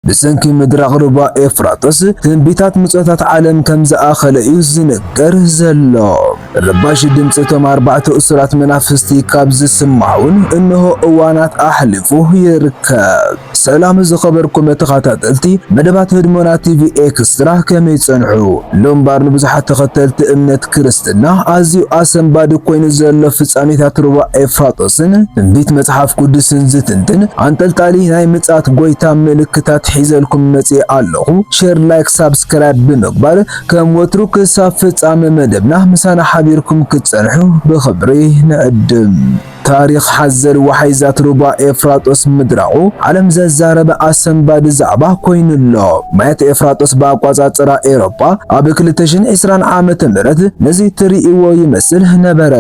ብሰንኪ ምድራቕ ሩባ ኤፍራጥስ ትንቢታት ምጾታት ዓለም ከም ዝኣኸለ እዩ ዝንገር ዘሎ። ረባሺ ድምጺ እቶም ኣርባዕተ እሱራት መናፍስቲ ካብ ዝስማዕውን እንሆ እዋናት ኣሕሊፉ ይርከብ። ሰላም ዝኸበርኩም ተኸታተልቲ መደባት ህድሞና ቲቪ ኤክስትራ ከመይ ጸንሑ? ሎምባር ንብዙሓት ተኸተልቲ እምነት ክርስትና ኣዝዩ ኣሰንባዲ ኮይኑ ዘሎ ፍጻሜታት ሩባ ኤፍራጦስን ትንቢት መጽሓፍ ቅዱስን ዝትንትን ኣንጠልጣሊ ናይ ምጽኣት ጎይታ ምልክታት ሒዘልኩም መጺኤ ኣለኹ። ሼር ላይክ ሳብስክራይብ ብምግባር ከም ወትሩ ክሳብ ፍጻመ መደብና ምሳና ሓቢርኩም ክትጸንሑ ብኽብሪ ንዕድም። ታሪኽ ሓዘል ወሓይዛት ሩባ ኤፍራጦስ ምድራቑ ዓለም ዘዛረበ ኣሰንባዲ ዛዕባ ኮይኑ ኣሎ። ማያት ኤፍራጦስ ብኣቋጻጽራ ኤሮጳ ኣብ ክልተ ሽሕን ዕስራን ዓመተ ምህረት ነዚ ትርእይዎ ይመስል ነበረ።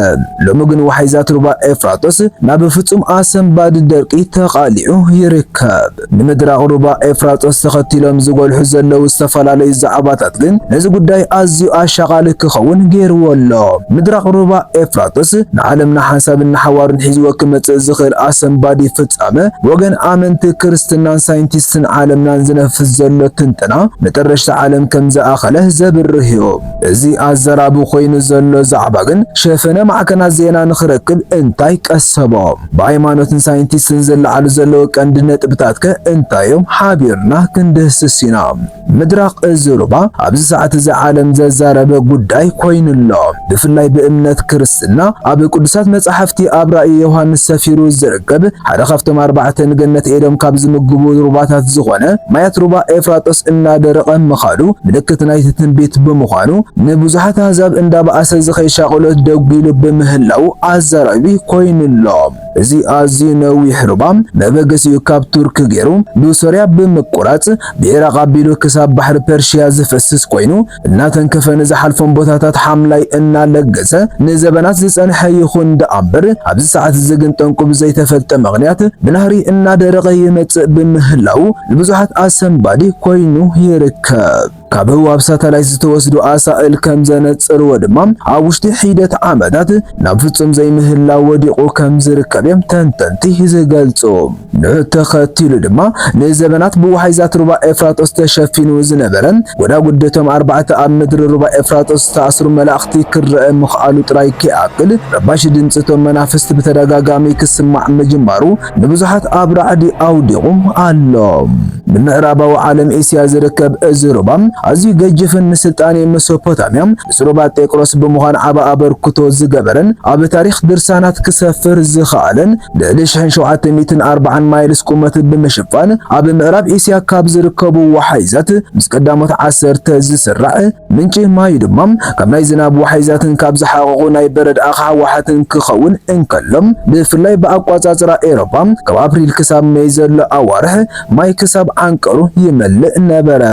ሎሚ ግን ወሓይዛት ሩባ ኤፍራጦስ ናብ ፍጹም ኣሰንባዲ ደርቂ ተቓሊዑ ይርከብ። ንምድሪ ኣቕሩባ ኤፍራጦስ ተኸቲሎም ዝጎልሑ ዘለዉ ዝተፈላለዩ ዛዕባታት ግን ነዚ ጉዳይ ኣዝዩ ኣሻቓሊ ክኸውን ገይርዎ ኣሎ። ምድሪ ኣቕሩባ ኤፍራጦስ ንዓለም ንሓንሳብን ንሓዋሩን ሒዝዎ ክመጽእ ዝኽእል ኣሰንባዲ ፍጻመ ብወገን ኣመንቲ ክርስትናን ሳይንቲስትን ዓለምናን ዝነፍስ ዘሎ ትንተና መጠረሽታ ዓለም ከም ዝኣኸለ ዘብርህ'ዩ። እዚ ኣዘራቢ ኮይኑ ዘሎ ዛዕባ ግን ሸፈነ ማዕከናት ዜና ንኽረክብ እንታይ ቀሰቦ? ብኣይማኖትን ሳይንቲስትን ዝለዓሉ ዘለዉ ቀንዲ ነጥብታትከ እንታይዮም? ሓቢርና ክንድህስስ ኢና። ምድራቕ እዚ ሩባ ኣብዚ ሰዓት እዚ ዓለም ዘዛረበ ጉዳይ ኮይኑ ኣሎ። ብፍላይ ብእምነት ክርስ። ዝና ኣብ ቅዱሳት መጻሕፍቲ ኣብ ራእይ ዮሃንስ ሰፊሩ ዝርከብ ሓደ ካብቶም ኣርባዕተ ንገነት ኤዶም ካብ ዝምግቡ ሩባታት ዝኾነ ማያት ሩባ ኤፍራጦስ እናደረቐ ምኻዱ ምልክት ናይቲ ትንቢት ብምዃኑ ንብዙሓት ኣህዛብ እንዳበኣሰ ዝኸይድ ሻቕሎት ደጒሉ ብምህላዉ ኣዛራቢ ኮይኑ ኣሎ። እዚ ኣዝዩ ነዊሕ ሩባ መበገሲኡ ካብ ቱርኪ ገይሩ ብሶርያ ብምቁራጽ ብዒራቕ ኣቢሉ ክሳብ ባሕሪ ፐርሺያ ዝፈስስ ኮይኑ፣ እናተንከፈ ንዝሓልፎም ቦታታት ሓምላይ እናለገሰ ንዘበናት ዝጸንሐ ይኹን ደኣምበር ኣብዚ ሰዓት እዚ ግን ጠንቁ ብዘይተፈልጠ ምኽንያት ብናህሪ እናደረቐ ይመጽእ ብምህላዉ ንብዙሓት ኣሰንባዲ ኮይኑ ይርከብ። ካብ ህዋብ ሳተላይት ዝተወስዱ ኣሳእል ከም ዘነጽርዎ ድማ ኣብ ውሽጢ ሒደት ዓመታት ናብ ፍጹም ዘይምህላው ወዲቑ ከም ዝርከብ'ዮም ተንተንቲ ዝገልጹ። ንዑ ተኸቲሉ ድማ ንዘበናት ብወሓይዛት ሩባ ኤፍራጦስ ተሸፊኑ ዝነበረ ጎዳጉዲ'ቶም ኣርባዕተ ኣብ ምድሪ ሩባ ኤፍራጦስ ዝተኣስሩ መላእኽቲ ክረኣ ምኽኣሉ ጥራይ ከይኣክል፣ ረባሺ ድምጺ'ቶም መናፍስት ብተደጋጋሚ ክስማዕ ምጅማሩ ንብዙሓት ኣብ ራዕዲ ኣውዲቑ ኣሎ። ንምዕራባዊ ዓለም እስያ ዝርከብ እዚ ሩባ ኣዝዩ ገጅፍን ንስልጣኔ መሶፖታምያ፣ ምስ ሮባ ጤቅሮስ ብምዃን ዓቢ ኣበርክቶ ዝገበረን ኣብ ታሪኽ ድርሳናት ክሰፍር ዝኸኣለን ልዕሊ ሽሕን ሸውዓተ ሚእትን ኣርብዓን ማይልስ ቁመት ብምሽፋን ኣብ ምዕራብ ኤስያ ካብ ዝርከቡ ወሓይዛት ምስ ቀዳሞት ዓሰርተ ዝስራዕ ምንጪ ማዩ ድማ ካብ ናይ ዝናብ ወሓይዛትን ካብ ዝሓቐቑ ናይ በረድ ኣኻሓ ዋሓትን ክኸውን እንከሎ ብፍላይ ብኣቋጻጽራ ኤሮፓ ካብ ኣፕሪል ክሳብ መይ ዘሎ ኣዋርሕ ማይ ክሳብ ዓንቀሩ ይመልእ ነበረ።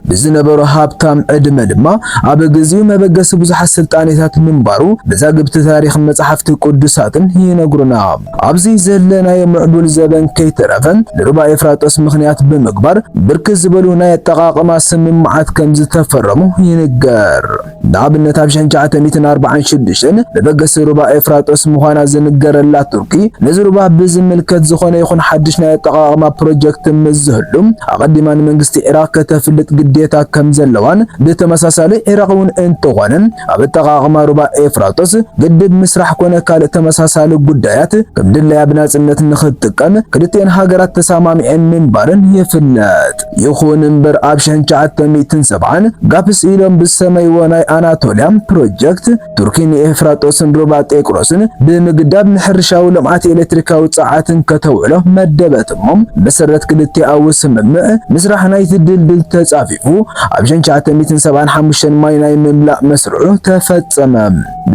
ብዝነበሮ ሃብታም ዕድመ ድማ ኣብ ግዜኡ መበገሲ ብዙሓት ስልጣኔታት ምንባሩ መዛግብቲ ታሪኽን መጻሕፍቲ ቅዱሳትን ይነግሩና። ኣብዚ ዘለናዮ ምዕቡል ዘበን ከይተረፈ ንሩባ ኤፍራጦስ ምኽንያት ብምግባር ብርክት ዝበሉ ናይ ኣጠቓቕማ ስምምዓት ከምዝተፈረሙ ይንገር። ንኣብነት ኣብ ሽሕ ትሽዓተ ሚእትን ኣርባዓን ሽዱሽተን መበገሲ ሩባ ኤፍራጦስ ምዃና ዝንገረላ ቱርኪ ነዚ ሩባ ብዝምልከት ዝኾነ ይኹን ሓድሽ ናይ ኣጠቓቕማ ፕሮጀክት ምስ ዝህሉ ኣቐዲማ ንመንግስቲ ዒራቕ ከተፍልጥ ግዴታ ከም ዘለዋን ብተመሳሳሊ ዒራቕ'ውን እንተኾነ ኣብ ኣጠቓቕማ ሩባ ኤፍራጦስ ግድብ ምስራሕ ኮነ ካልእ ተመሳሳሊ ጉዳያት ከም ድላያ ብናጽነት ንኽትጥቀም ክልቲኤን ሃገራት ተሰማሚዐን ምንባረን ይፍለጥ። ይኹን እምበር ኣብ ሽሕን ትሽዓተ ሚእትን ሰብዓን ጋፕስ ኢሎም ብዝሰመይዎ ናይ ኣናቶልያ ፕሮጀክት ቱርኪ ንኤፍራጦስን ሩባ ጤቅሮስን ብምግዳብ ንሕርሻዊ ልምዓት ኤሌክትሪካዊ ጸዓትን ከተውዕሎ መደበት እሞ ብመሰረት ክልቲኣዊ ስምምዕ ምስራሕ ናይቲ ድልድል ተጻፊፉ ኣብ ሽሕን ትሽዓተ ሚእትን ሰብዓን ሓሙሽተን ማይ ናይ ምምላእ መስርዑ ተፈጸመ።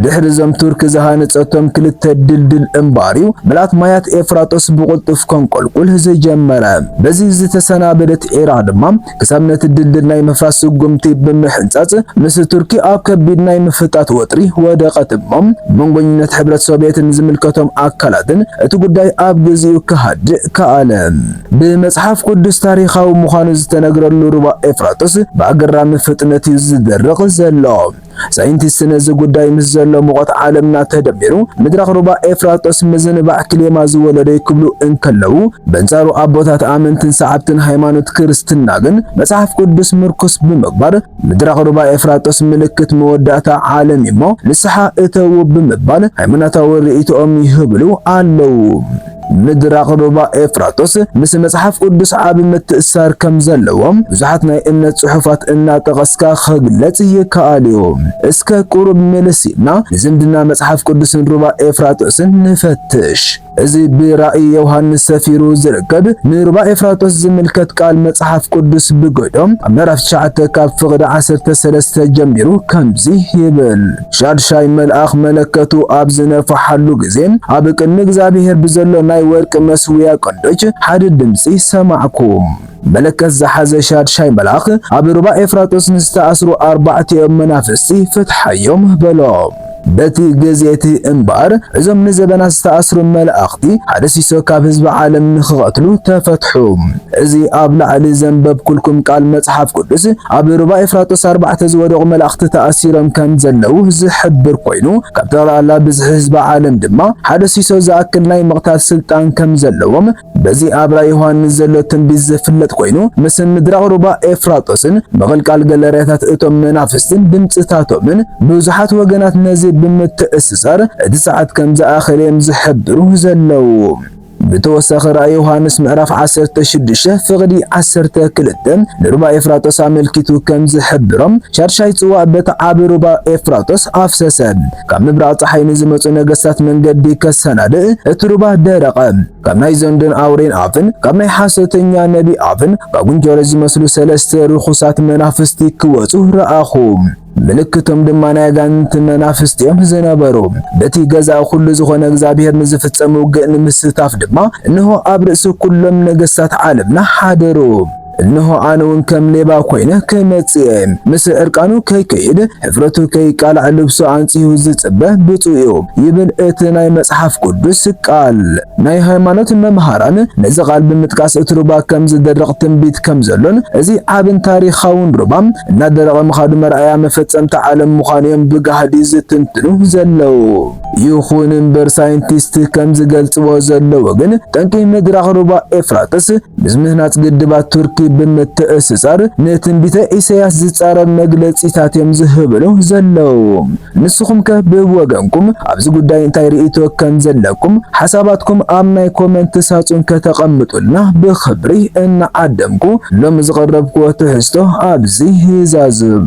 ድሕሪ እዞም ቱርኪ ዝሃነጸቶም ክልተ ድልድል እምባርዩ ምልኣት ማያት ኤፍራጦስ ብቕልጡፍ ከንቆልቁል ዝጀመረ። በዚ ዝተሰናበደት ዒራ ድማ ክሳብ ነቲ ድልድል ናይ ምፍራስ ስጉምቲ ብምሕንጻጽ ምስ ቱርኪ ኣብ ከቢድ ናይ ምፍጣት ወጥሪ ወደቐት እሞ መንጎኝነት ሕብረት ሶቭየትን ዝምልከቶም ኣካላትን እቲ ጉዳይ ኣብ ግዚኡ ክሃድእ ከኣለ። ብመጽሓፍ ቅዱስ ታሪኻዊ ምዃኑ ዝተነግረሉ ሩባ ኤፍራጦስ ብኣገራሚ ፍጥነትዩ ዝደርቕ ዘሎ። ሳይንቲስት ነዚ ጉዳይ ምስ ዘሎ ሙቐት ዓለምና ተደሚሩ ምድራኽ ሩባ ኤፍራጦስ ምዝንባዕ ክሌማ ዝወለዶ'ዩ ክብሉ እንከለዉ፣ በንጻሩ ኣቦታት ኣመንትን ሰዓብትን ሃይማኖት ክርስትና ግን መጽሓፍ ቅዱስ ምርኩስ ብምግባር ምድራኽ ሩባ ኤፍራጦስ ምልክት መወዳእታ ዓለም'ዩ'ሞ ንስሓ እተዉ ብምባል ሃይማኖታዊ ርእይቶኦም ይህብሉ ኣለዉ። ምድራኽ ሩባ ኤፍራጦስ ምስ መጽሓፍ ቅዱስ ዓቢ ምትእስሳር ከም ዘለዎም ብዙሓት ናይ እምነት ጽሑፋት እናጠቐስካ ኽግለጽ ይከኣል'ዩ። እስከ ቁሩብ ምልስ ኢልና ንዝምድና መጽሓፍ ቅዱስን ሩባ ኤፍራጦስን ንፈትሽ። እዚ ብራእይ ዮሃንስ ሰፊሩ ዝርከብ ንሩባ ኤፍራጦስ ዝምልከት ቃል መጽሓፍ ቅዱስ ብግህዶ ኣብ ምዕራፍ ትሽዓተ ካብ ፍቕዲ ዓሰርተ ሰለስተ ጀሚሩ ከምዚ ይብል። ሻድሻይ መልኣኽ መለከቱ ኣብ ዝነፍሓሉ ግዜ፣ ኣብ ቅድሚ እግዚኣብሄር ብዘሎ ናይ ወርቂ መሠውያ ቀንዶች ሓደ ድምጺ ሰማዕኩ። መለከት ዝሓዘ ሻድሻይ መልኣኽ፣ ኣብ ሩባ ኤፍራጦስ ንዝተኣስሩ ኣርባዕቲኦም መናፍስቲ ፍትሓዮም፣ በሎ። በቲ ግዜ እቲ እምበኣር፣ እዞም ንዘበናት ዝተኣስሩ መላእኽቲ፣ ሓደ ሲሶ ካብ ህዝቢ ዓለም ንኽቐትሉ ተፈትሑ። እዚ ኣብ ላዕሊ ዘንበብኩልኩም ቃል መጽሓፍ ቅዱስ ኣብ ሩባ ኤፍራጦስ ኣርባዕተ ዝወደቑ መላእኽቲ ተኣሲሮም ከም ዘለዉ ዝሕብር ኮይኑ ካብ ጠቕላላ ብዝሒ ህዝቢ ዓለም ድማ ሓደ ሲሶ ዝኣክል ናይ ምቕታል ስልጣን ከም ዘለዎም በዚ ኣብ ራእይ ዮሃንስ ዘሎ ትንቢት ዝፍለጥ ኮይኑ ምስ ምድራቕ ሩባ ኤፍራጦስን ምቕልቃል ገለርያታት እቶም መናፍስትን ድምጽታቶምን ብዙሓት ወገናት ነዚ ብምትእስሳር እቲ ሰዓት ከም ዝኣኸለ እዮም ዝሕብሩ ዘለዉ። ብተወሳኺ ራእይ ዮሃንስ ምዕራፍ ዓሰርተ ሽዱሽተ ፍቕዲ ዓሰርተ ክልተ ንሩባ ኤፍራጦስ ኣመልኪቱ ከም ዝሕብሮ፣ ሻድሻይ ጽዋእ በቲ ዓቢ ሩባ ኤፍራጦስ ኣፍሰሰ። ካብ ምብራቕ ጸሓይ ንዝመጹ ነገስታት መንገዲ ከሰናድእ እቲ ሩባ ደረቐ። ካብ ናይ ዘንዶን ኣውሬን ኣፍን ካብ ናይ ሓሶተኛ ነቢ ኣፍን ካብ ጉንጀሮ ዝመስሉ ሰለስተ ርኹሳት መናፍስቲ ክወጹ ረኣኹ። ምልክቶም ድማ ናይ ኣጋንንቲ መናፍስት እዮም ዝነበሩ። በቲ ገዛእ ኩሉ ዝኾነ እግዚኣብሔር ንዝፍጸም ውግእ ንምስታፍ ድማ እንሆ ኣብ ርእሲ ኩሎም ነገሥታት ዓለምና ሓደሩ። እንሆ ኣነውን ከም ሌባ ኮይነ ክመጽእ እየ። ምስ ዕርቃኑ ከይከይድ፣ ሕፍረቱ ከይቃላዕ ልብሱ ኣንጺሁ ዝጽበ ብፁዕ እዩ ይብል እቲ ናይ መጽሓፍ ቅዱስ ቃል። ናይ ሃይማኖት መምሃራን ነዚ ቃል ብምጥቃስ እቲ ሩባ ከም ዝደርቕ ትንቢት ከም ዘሎን እዚ ዓብን ታሪኻውን ሩባ እናደረቐ ምኻዱ መርኣያ መፈጸምታ ዓለም ምዃኑ እዮም ብጋህዲ ዝትንትኑ ዘለዉ። ይኹን እምበር ሳይንቲስት ከም ዝገልጽዎ ዘለዉ ግን ጠንቂ ምድራቕ ሩባ ኤፍራጥስ ምስ ምህናጽ ግድባት ቱርኪ ብምትእስሳር ንትንቢተ ኢሳይያስ ዝጻረር መግለጺታት እዮም ዝህብሉ ዘለዉ። ንስኹምከ ብወገንኩም ኣብዚ ጉዳይ እንታይ ርእይቶ ከም ዘለኩም ሓሳባትኩም ኣብ ናይ ኮመንት ሳጹን ከተቐምጡልና ብኽብሪ እናዓደምኩ ሎሚ ዝቐረብኩዎ ትሕዝቶ ኣብዚ ይዛዝም።